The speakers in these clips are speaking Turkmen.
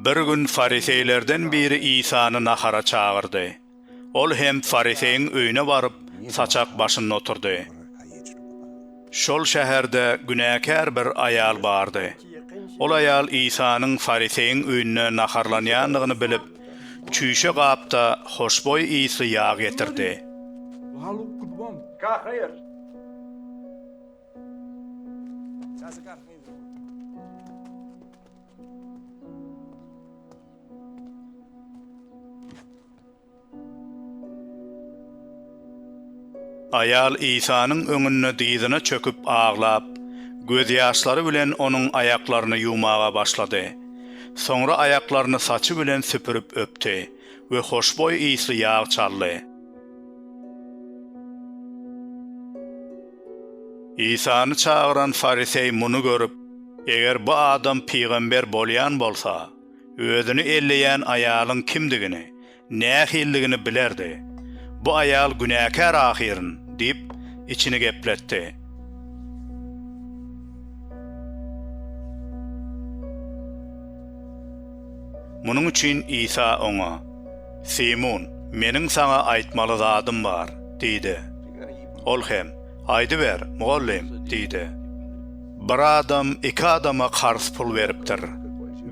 Bir gün fariseýlerden biri Isany nahara çagyrdy. Ol hem fariseýiň öýüne baryp, saçak başynda oturdy. Şol şäherde günäkär bir aýal bardy. Ol aýal Isanyň fariseýiň öýünde naharlanýandygyny bilip, çüýşe gapda hoşboý ysly ýag getirdi. Aýal Isanyň öňünde dyzyna çöküp aglap, gözýaşlary bilen Onuň aýaklaryny ýuwmaga başlady. Soňra aýaklaryny saçy bilen süpürip öpdi we hoşboý ysly ýag çaldy. Isany çagyran fariseý muny görüp, Eger bu adam pygamber bolýan bolsa, özüni elleýän aýalyň kimdigini, nähilidigini bilerdi. Bu aýal günäkär ahyryn! diýip, içini gepletdi. Munuň üçin Isa oňa, Simun, meniň saňa aýtmaly zadym bar diýdi. Ol hem, Aýdyber, mugallym, diýdi. Bir adam iki adama karz pul beripdir.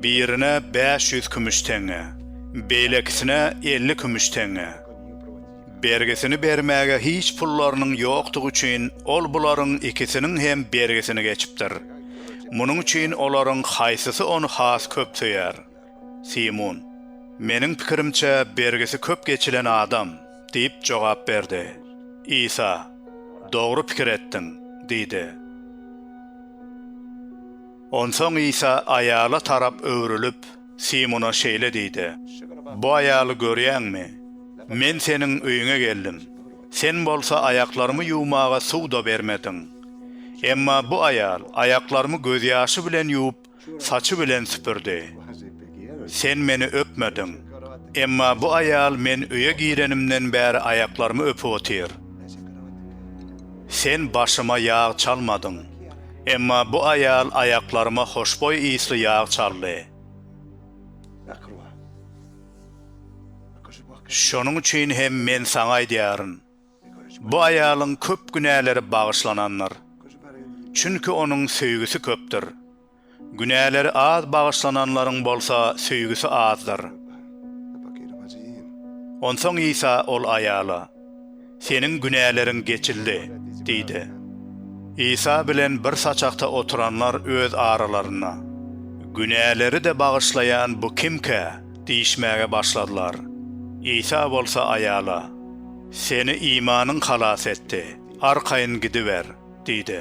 Birine bäş ýüz kümüş teňňe, beýlekisine elli kümüş teňňe. Bergisini bermäge hiç pullarynyň ýokdugy üçin ol bularyň ikisiniň hem bergisini geçipdir. Munuň üçin olaryň haýsysy ony has köp söýer? Simun, Meniň pikirimçe, bergisi köp geçilen adam, diýip jogap berdi. Isa, Dogry pikir etdiň, diýdi. Onsoň Isa aýala tarap öwrülip, Simuna şeýle diýdi, Bu aýaly görýäňmi? Men seniň öýüňe geldim. Sen bolsa aýaklarymy ýuwmaga suw-da bermediň. Emma bu aýal aýaklarymy gözýaşy bilen ýuwup, saçy bilen süpürdi. Sen meni öpmediň. Emma bu aýal men öýe girenimden bäri aýaklarymy öpüp otyr. Sen başyma ýag çalmadyň. Emma bu aýal aýaklaryma hoşboý ysly ýag çaldy. Şonuň üçin hem men saňa aýdýaryn. Bu aýalyň köp günäleri bagyşlanandyr. Çünki onuň söýgüsi köpdür. Günäleri az bagyşlananlaryň bolsa söýgüsi azdyr. Onsoň Isa ol aýala, Seniň günäleriň geçildi diýdi. Isa bilen bir saçakda oturanlar öz aralarynda, Günäleri-de bagyşlaýan bu kimkä? diýişmäge başladylar. Isa bolsa aýala. Seni imanyň halas etdi. Arkaýyn gidiber! diýdi.